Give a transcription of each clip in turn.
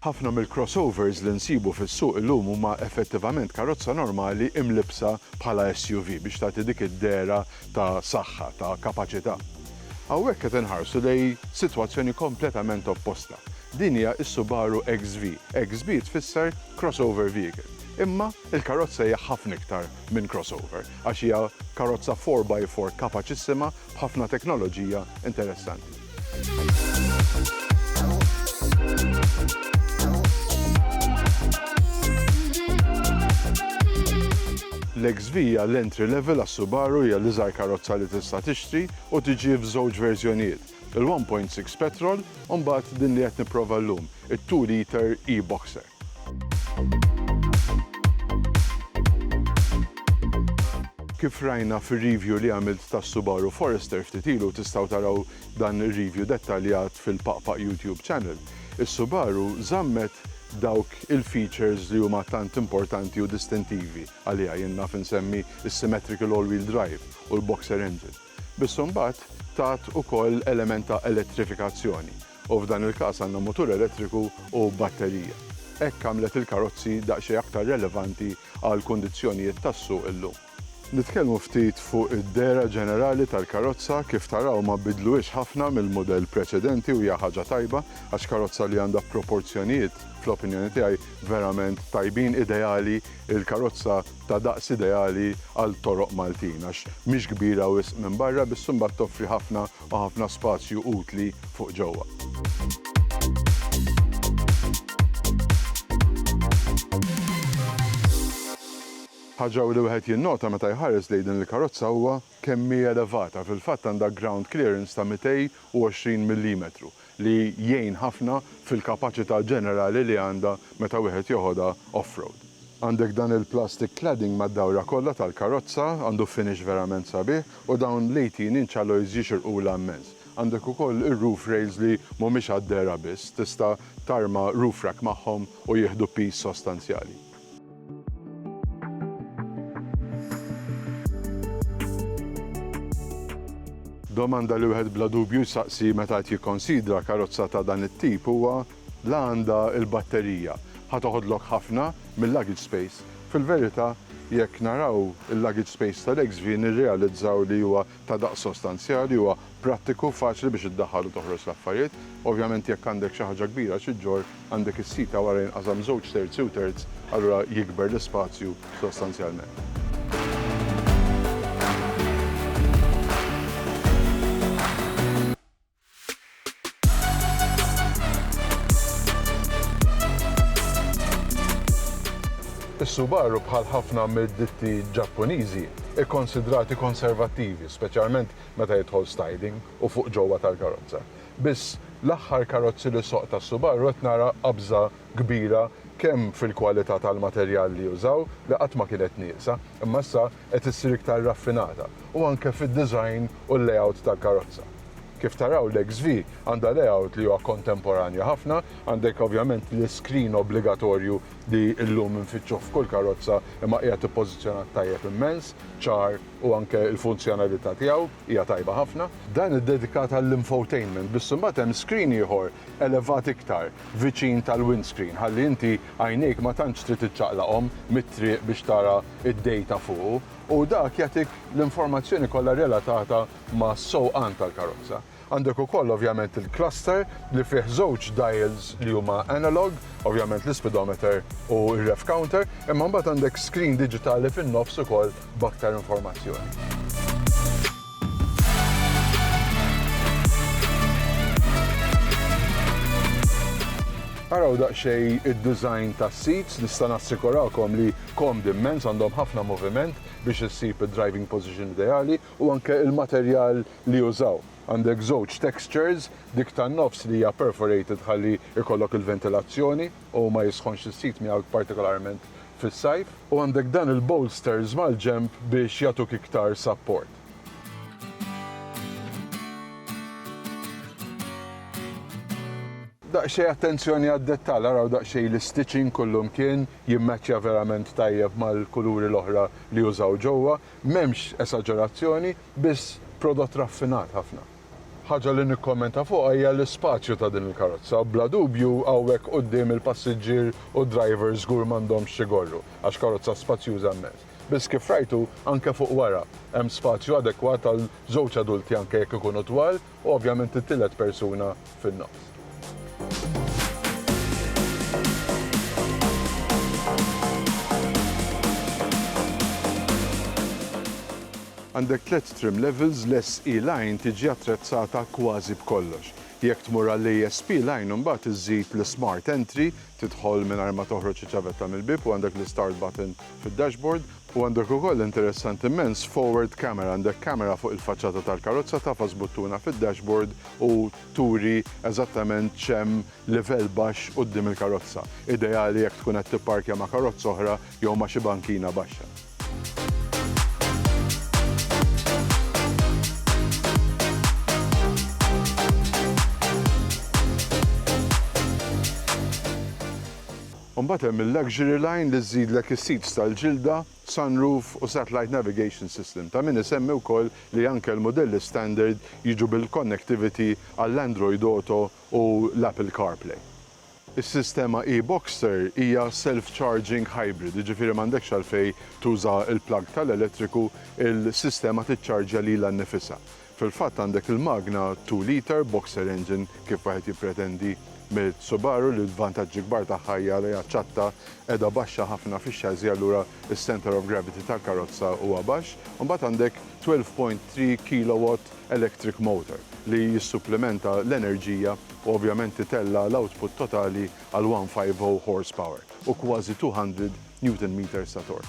Ħafna mill-crossovers li nsibu fis-suq illum huma effettivament karozza normali imlibbsa bħala SUV biex tagħti dik id-dehra ta' saħħa, ta' kapaċità. Hawnhekk qed inħarsu lejn sitwazzjoni kompletament opposta. Din hija s-Subaru XV. XV tfisser crossover vehicle. Imma l-karozza hija ħafna iktar minn crossover għax hija karozza four by four kapaċissima b'ħafna teknoloġija interessanti. L-XV hija l-entry level għas-Subaru, hija l-iżgħar karozza li tista' tixtri u tiġi f'żewġ verżjonijiet, il-1.6 petrol u mbagħad din li qed nipprova llum, it-two liter e-boxer. Kif rajna fir-review li għamilt tas-Subaru Forester ftit ilu, tistgħu taraw dan ir-review dettaljat fil-Paqpaq YouTube channel, is-Subaru żammet dawk il-features li huma tant importanti u distintivi għaliha, jien naf insemmi s-symmetrical all-wheel drive u l-boxer engine. Biss imbagħad tgħadd ukoll element ta' elettrifikazzjoni u f'dan il-każ għandna mutur elettriku u batterija. Hekk għamlet il-karozzi daqsxejn aktar relevanti għall-kundizzjonijiet tas-suq illum. Nitkellmu ftit fuq id-dehra ġenerali tal-karozza, kif taraw ma bidluhiex ħafna mill-mudell preċedenti u hija ħaġa tajba għax karozza li għandha proporzjonijiet fl-opinjoni tiegħi verament tajbin, ideali, il-karozza, ta' daqs ideali għal toroq Maltin għax mhix kbira wisq minn barra biss imbagħad toffri ħafna u ħafna spazju utli fuq ġewwa. Ħaġa li wieħed jinnota meta jħares lejn din il-karozza huwa kemm hi elevata, fil-fatt għandha ground clearance ta' 220 millimetru, li jgħin ħafna fil-kapaċità ġenerali li għandha meta wieħed joħodha off-road. Għandek dan il-plastic cladding mad-dawra kollha tal-karozza, għandu finish verament sabiħ u dawn l-eighteen-inch alloys jixirqulha immens. Għandek ukoll ir-roof rails li mhumiex għad-dehra biss, tista' tarma roof rack magħhom u jieħdu piż sostanzjali. Domanda li wieħed bla dubju jsaqsi meta qed jikkonsidra karozza ta' dan it-tip huwa la għandha l-batterija. Ħa toħodlok ħafna mil-luggage space. Fil-verità, jekk naraw il-luggage space tal-XV nirrealizzaw li huwa ta' daqs sostanzjali, huwa prattiku, faċli biex iddaħħal u toħroġ l-affarijiet. Ovvjament jekk għandek xi ħaġa kbira xi ġġorr, għandek is-sit ta' wara jinqasam żewġ terzi u terz, allura jikber l-ispazju sostanzjalment. Is-Subaru, bħal ħafna mid-ditti Ġappuniżi, hi konsidrati konservattivi, speċjalment meta jidħol styling u fuq ġewwa tal-karozza. Biss, l-aħħar karozzi li soqt ta' Subaru qed nara qabża kbira kemm fil-kwalità tal-materjal li jużaw, li qatt ma kienet nieqsa, imma issa qed issir iktar raffinata u anke fid-design u l-layout tal-karozza. Kif taraw l-XV għandha layout li huwa kontemporanja ħafna, għandek ovvjament l-iskrin obbligatorju li llum infittxuh f'kull karozza imma qiegħed ippożizzjonat tajjeb immens, ċar u anke l-funzjonalità tiegħu hija tajba ħafna. Dan iddedikat għall-infotainment biss imbagħad hemm skrin ieħor elevat iktar viċin tal-windscreen ħalli inti Għajnejk ma tantx trid iċċaqlaqhom mit-triq biex tara d-dejta fuqu u dak jagħtik l-informazzjoni kollha relatata mas-sewqan tal-karozza. Għandek ukoll ovvjament il-cluster li fih żewġ dials li huma analog, ovvjament l-ispidometer u r-rev counter, imma mbagħad għandek screen diġitali fin-nofs ukoll b'aktar informazzjoni. Araw daqsxejn id-design tas-seats, nista' nassikurakom li komdi mmens, għandhom ħafna moviment biex issib id-driving position ideali u anke il-materjal li użaw. Għandek żewġ textures, dik tan-nofs li hija perforated ħalli jkollok il-ventilazzjoni, u ma jisħonx is-sit miegħek partikolarment fis-sajf. U għandek dan il-bolsters mal-ġenb biex jagħtuk iktar sapport. Daqsxejn attenzjoni għad-dettall, araw daqsxejn l-istitching kullimkien, jimmattchja verament tajjeb mal-kuluri l-oħra li użaw ġewwa, m'hemmx esaġerazzjoni, biss prodott raffinat ħafna. Ħaġa li nikkommenta fuqha hija l-ispazju ta' din il-karozza. Bla dubju hawnhekk quddiem il-passiġġier u d-driver żgur m'għandhomx x'igorru għax karozza spazjuża mmens. Biss kif rajtu anke fuq wara hemm spazju adekwat għal żewġ adulti anke jekk ikunu twal u ovvjament it-tielet persuna fin-nofs. Għandek tliet trim levels, l-SE line tiġi attrezzata kważi b'kollox. Jekk tmur għall-ASP line imbagħad iżżid l-Smart Entry, tidħol mingħajr ma toħroġ iċ-ċavetta mill-bieb u għandek l-Start button fid-dashboard, U għandek ukoll, interessanti immens, forward camera, għandek kamera fuq il-faċċata tal-karozza tagħfas buttuna fid-dashboard u turi eżattament x'hemm livell baxx quddiem il-karozza, ideali jekk tkun qed tipparkja ma' karozza oħra jew ma' xi bankina baxxa. Imbagħad hemm il-luxury line li żżidlek is-seats tal-ġilda, sunroof u satellite navigation system. Ta' min isemmi wkoll li anke l-mudelli standard jiġu bil-connectivity għall-Android Auto u l-Apple CarPlay. Is-sistema e-Boxster hija self-charging hybrid, jiġifieri m'għandekx għalfejn tuża l-plug tal-elettriku, il-sistema tiċċarġja lilha nnifisha. Fil-fatt għandek il-magna two litre boxer engine kif wieħed jippretendi mill-Subaru li l-vantaġġi kbar tagħha hija li hija ċatta, qiegħda baxxa ħafna fix-chassis allura s-centre of gravity tal-karozza huwa baxx. Imbagħad għandek twelve point three kilowatt electric motor li jissupplimenta l-enerġija u ovvjament itella' l-output totali għal one five oh horsepower u kważi two hundred Newton meters ta' torque.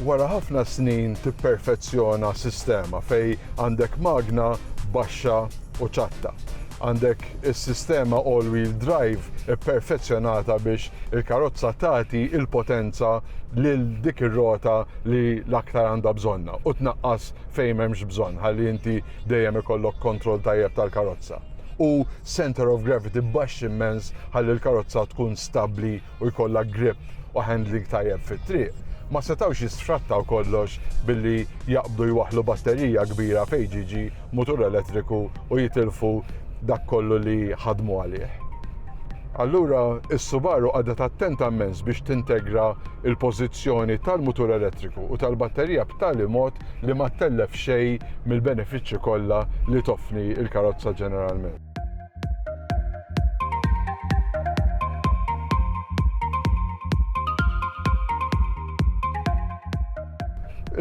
Wara ħafna snin tipperfezzjona sistema fejn għandek magna baxxa u ċatta. Għandek is-sistema all-wheel drive ipperfezzjonata biex il-karozza tagħti l-potenza lil dik ir-rota li l-aktar għandha bżonnha u tnaqqas fejn m'hemmx bżonn ħalli inti dejjem ikollok kontroll tajjeb tal-karozza. U centre of gravity baxx immens ħalli l-karozza tkun stabbli u jkollha grip u handling tajjeb fit-triq, ma setgħux jisfrattaw kollox billi jaqbdu jwaħħlu batterija kbira fejn ġiġi mutur elettriku u jitilfu dak kollu li ħadmu għalih. Allura, is-Subaru qagħdet attenta mmens biex tintegra l-pożizzjoni tal-mutur elettriku u tal-batterija b'tali mod li ma ttellef xejn mill-benefiċċji kollha li toffni l-karozza ġeneralment.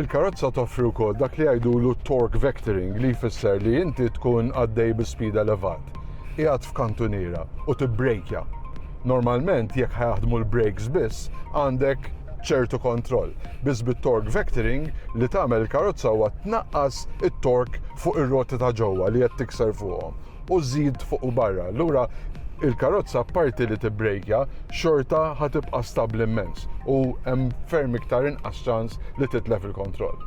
Il-karozza toffri wkoll dak li jgħidulu torque vectoring li jfisser li inti tkun għaddej bi spida levat. Qiegħed f'kantuniera u tibbrejkja. Normalment jekk ħajaħdmu l-brakes biss għandek ċertu kontroll. Biss bit-torque vectoring li tagħmel il-karozza huwa tnaqqas it-torque fuq ir-roti ta' ġewwa li qed tikser fuqhom u żżid fuq u barra. Allura il-karozza apparti li tibbrejkja xorta ħa tibqa' stabbli immens u hemm ferm iktar inqas ċans li titlef il-kontroll.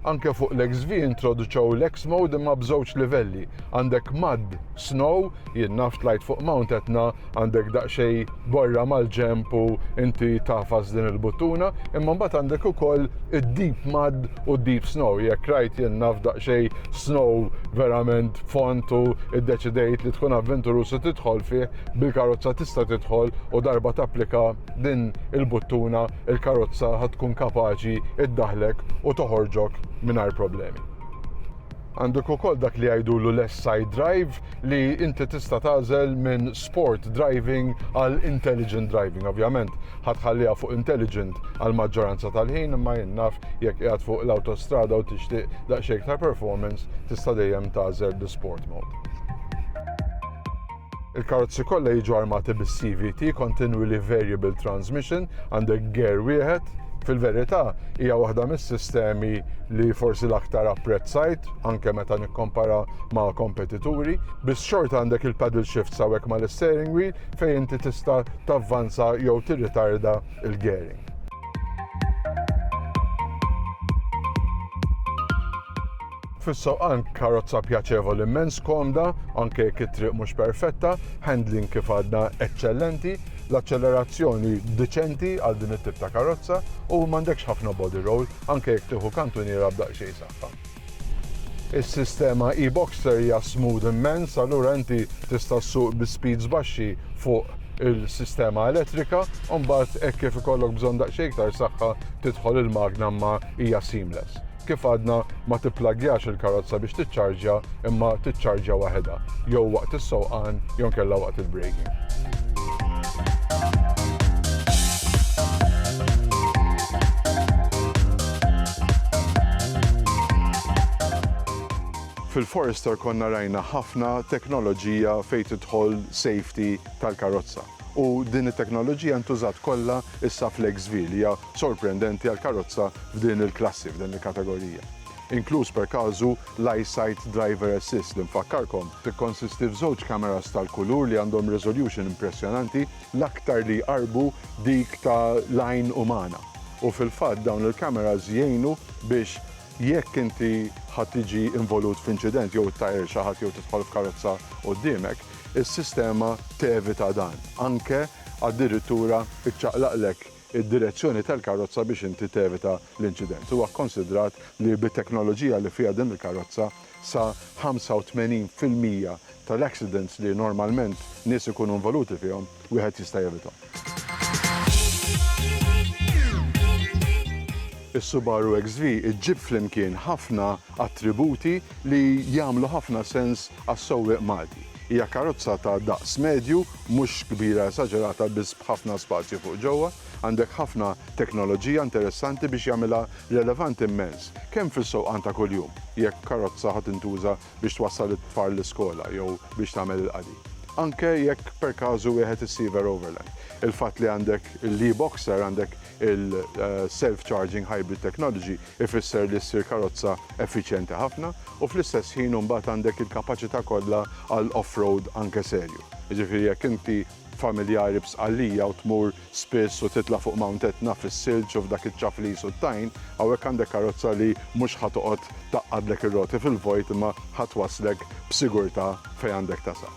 Anke fuq l-XV introduċew l-X mode imma b'żewġ livelli. Għandek mud, snow, Jien naf tlajt fuq Mount Etna għandek daqsxejn borra mal-ġenb u inti tagħfas din il-buttuna, imma mbagħad għandek ukoll id-deep mud u d-deep snow. Jekk rajt jien naf daqsxejn snow verament fond u ddeċidejt li tkun avventurus u tidħol fih, bil-karozza tista' tidħol u darba tapplika din il-buttuna il-karozza ħa tkun kapaċi ddaħħlek u toħorġok mingħajr problemi. Għandek ukoll dak li jgħidulu l-S-Side Drive li inti tista' tagħżel minn sport driving għal intelligent driving. Ovvjament, ħatħalliha fuq intelligent għal maġġoranza tal-ħin imma jien naf jekk qiegħed fuq l-awtostrada u tixtieq daqsxejn iktar performance tista' dejjem tagħżel l-sport mode. Il-karozzi kollha jiġu armati bis-CVT, Continually Variable Transmission, għandek ger wieħed, Fil-verità, hija waħda mis-sistemi li forsi l-aktar apprezzajt, anke meta nikkompara ma' kompetituri, biss xorta għandek il-paddle shift sawek ma' l-steering wheel fejn inti tista' tavvanza jew tirritarda il-gearing. Fis-sewqan karozza pjaċevoli immens, komda, anke jekk it-triq mhux perfetta, handling kif għadna eċċellenti, l-aċċellerazzjoni diċenti għal din it-tip ta' karozza u m'għandekx ħafna body roll anke jekk tieħu kantuniera b'daqsxejn saħħa. Is-sistema e-Boxster hija smooth immens, allura inti tista' ssuq bi speeds baxxi fuq il-sistema elettrika, u mbagħad hekk kif ikollok bżonn daqsxejn iktar saħħa tidħol il-magna ma hija seamless. Kif għadna, ma tipplagjax il-karozza biex tiċċarġja imma tiċċarġja waħedha, jew waqt is-sewqan jew inkella waqt il-breaking. Fil-Forester konna rajna ħafna teknoloġija fejn tidħol safety tal-karozza. U din it-teknoloġija ntużat kollha issa fl-XV li hija sorprendenti għal karozza f'din il-klassi, f'din il-kategorija. Inkluż per każu l-EyeSight Driver Assist li nfakkarkom, tikkonsisti f'żewġ kameras tal-kulur li għandhom resolution impressjonanti l-aktar li jqarrbu dik ta' l-għajn umana. U fil-fatt dawn il-kameras jgħinu biex jekk inti ħa tiġi involut f'inċident jew ittajjar xi ħadd jew tidħol f'karozza quddiemek, is-sistema tevita dan, anke addirittura ċċaqlaqlek id-direzzjoni tal-karozza biex inti tevita l-inċident. Huwa kkonsidrat li bit-teknoloġija li fiha din il-karozza, sa 85 fil-mija tal-accidents li normalment nies ikunu involuti fihom, wieħed jista' jevithom. Is-Subaru XV iġġib flimkien ħafna attributi li jagħmlu ħafna sens għas-sewwieq Malti. Hija karozza ta' daqs medju, mhux kbira esaġerata biss b'ħafna spazju fuq ġewwa. Għandek ħafna teknoloġija interessanti biex jagħmilha relevanti mmens, kemm fis-sewqan ta' kuljum, jekk karozza ħa tintuża biex twassal it-tfal l-iskola jew biex tagħmel il-qadi. Anke jekk perkażu wieħed issiever overland, il-fatt li għandek l-e-Boxer, għandek il-self-charging hybrid technology, ifisser li ssir karozza effiċjenti ħafna u fl-istess ħin u mbagħad għandek il-kapaċità kollha għal off-road anke serju. Jiġifieri jekk inti familjari b'Sqallija u tmur spiss u titla' fuq Mount Etna fis-silġ u f'dak iċ-ċaflis u t-tajn, hawnhekk għandek karozza li mhux ħa toqgħod tgħaqqadlek ir-roti fil-vojt imma ħa twasslek b'sigurtà fejn għandek tasal.